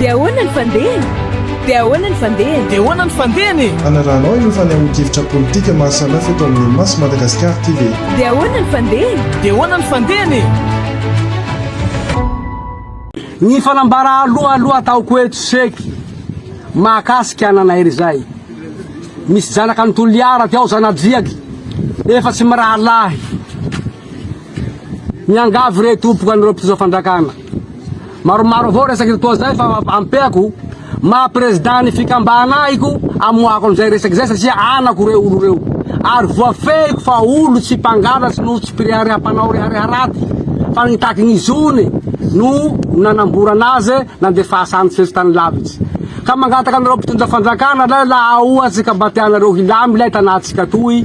Dia ahoana ny fandehany? Dia ahoana ny fandehany? Dia ahoana ny fandehany e? Hanarahanao ireo fanehoan-kevitra politika maha samihafa eto amin'ny Mas Madagascar TV. Dia ahoana ny fandehany? Dia ahoana ny fandehany e? Ny fanambara aloha aloha ataoko eto seky mahakasika ananairy izay. Misy janaka ny Toliara ty ao zanadriaky, efa tsy mirahalahy. Miangavy re tompoko an'ireo mpitondra fandrakana, maromaro avao resaka eto toa zay fa ampeako maha président ny fikambana ahiko amoahako an'izay resaka izay satria anako reo olo reo ary voafehiko fa olo tsy mpangala sy no tsy mpirehare hampanao rehareha raty fa nitaky ny zony no nanamborana azy nandefasa any tsy tany lavitsy ka mangataka an'ireo mpitondra fandrakana lay laha ohatsy ka mba tianareo hilamy lay tanantsika toy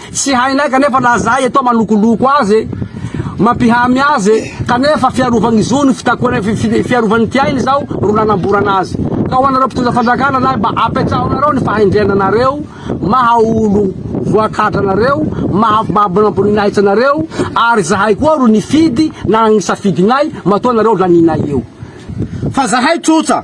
Tsy hainay kanefa na zahay eto manokoloko azy e, mampihamy azy e, kanefa fiarovany ny zony, fitakoana fiarovany ity ainy izao ro nanamborana azy. Ka ho anareo mpitondra fanjakana lahy mba apetraho anareo ny fahendrena anareo maha olo voakadra anareo, maha babona am-boninahitra anareo, ary zahay koa ro nifidy nanagny safidinay matoa nareo laninay eo. Fa zahay trotra.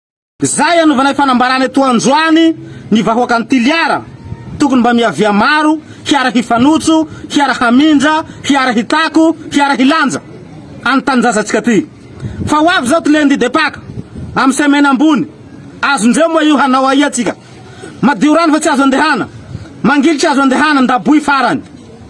Izay anovanay fanambarana eto androany ny vahoakan'i Toliara, tokony mba miavia maro, hiara hifanotso, hiara hamindra, hiara hitako, hiara hilanja any tanindrazantsika ty. Fa ho avy izao ty lundi de Paka, amin'ny semaine ambony, azondreo moa io hanao aia tsika? Madio rano fa tsy azo andehana, mangilitra azo andehana, ndaboy farany.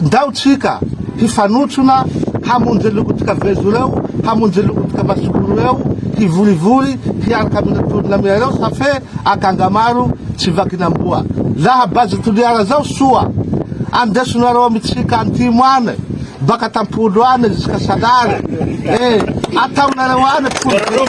Ndao tsika hifanotsona hamonjy lokotika vezo reo hamonjy lokotika masoko reo hivorivory hiaraka amina tolona miareo sa fe akanga maro tsy vakina amboa laha base toliara zao soa andesonareo amitsika antimo any baka tampolo any ziska salary eh ataonareo any folo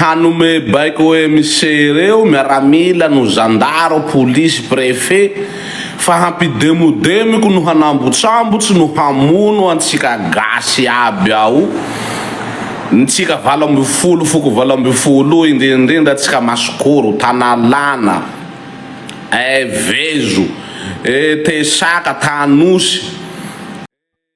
Hanome baiko OMC ireo miaramila no zandaro, polisy, prefet fa hampidemodemiko no hanambotsambotsy no hamono antsika gasy aby ao ntsika valo ambin'ny folo foko valo ambin'ny folo indrindrindra tsika masikoro, tanalana, evezo, e tesaka, tanosy.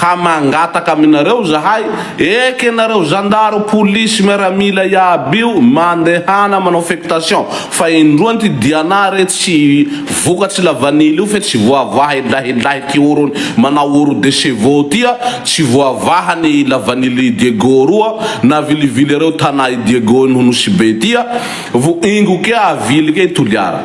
Ka mangataka aminareo izahay, eka ianareo zandaro, polisy, miaramila iaby io, mandehana manao fectation fa indroa anty dianà re tsy vokatry lavanily io fe tsy voavaha ilahilahy ty orony manao oro de chevaux ty a, tsy voavaha ny lavanily i Diego roa na vilivily reo tanà i Diego iny ho Nosy be ty a, vo ingo kea avily kea i Toliara.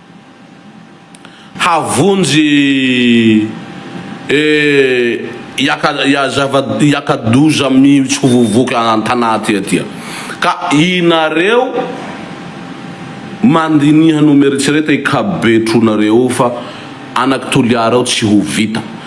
Havonjy eh Hiaka-doza mihitsy ho vovoky an-tanà aty aty a! Ka inareo mandiniha no mieritrereta i Kabetronareo io fa anak'i Toliara io tsy ho vita.